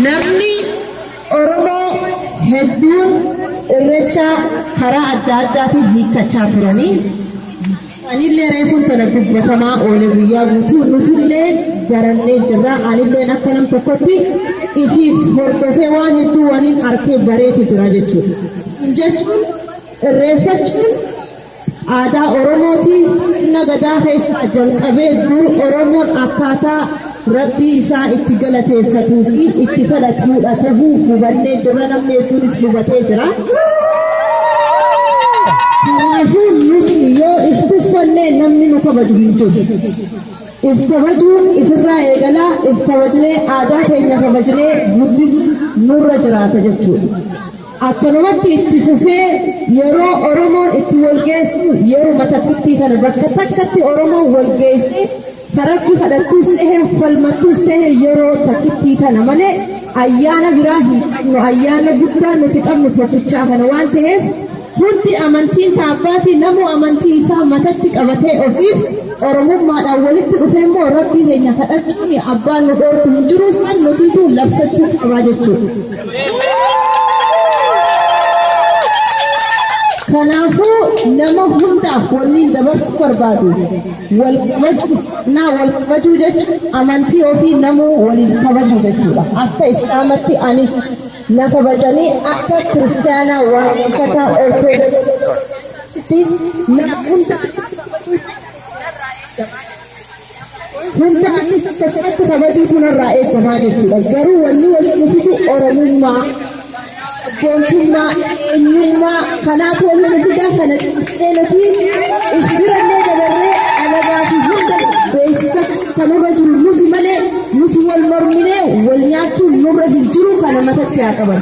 Namni Oromoo hedduun irrecha karaa adda addaatiin hiikkachaa turanii anillee reefuun tana dubbatamaa oole guyyaa guutuu nutullee barannee jirra anilleen akka nam tokkotti ifiif hordofee waan hedduu waniin arkee bareetu jira jechuudha. Jechuun irreeffachuun Aadaa Oromootiin sirna gadaa keessaa jalqabee dur Oromoon akkaataa rabbii isaa itti galateeffatuu fi itti kadhatuudha tahuu hubannee jirra namni hedduunis hubatee jira. Kanaafuu nuti yoo if tuffannee namni nu kabaju hin jiru. If kabajuun ifirraa eegalaa if kabajnee aadaa keenya kabajnee guddisuun nurra jiraata jechuudha. Akkanumatti itti fufee yeroo Oromoon itti walgeessu yeruma takkittii kana bakka takkatti Oromoon walgeessee karabbi kadhattuus ta'e falmattuus ta'e yeroo takkittii kana malee ayyaana biraa hin qabnu ayyaana guddaa nuti qabnu tokkichaa kana waan ta'eef hundi amantiin taabbaatii namuu amantii isaa matatti qabatee ofiif oromummaadhaan walitti dhufee immoo rabbii keenya kadhachuun abbaan nu dhoorku hin jiru san nutiitu labsachuu qabaa jechuudha. Kanaafuu nama hundaaf wanniin dabarsuu barbaadu wal kabajuu seenaa wal kabajuu jechuun amantii ofii namuu waliif kabajuu jechuudha. Akka Islaamatti anis na kabajanii akka Kiristaanaa waaqeffataa Ortodoksii fi nama hundaa Hunda anis akkasumatti kabajuu kanarraa eegamaa jechuudha. Garuu wanni walitti fidu Oromummaa, sabboontummaa, eenyummaa kanaaf walitti fida kana cimsnee nuti if birannee dabarree alagaa fi hunda beeksisa kanarra jiru nuti malee nuti wal morminee wal nyaachuun nurra hin jiru kana matatti haa qaban.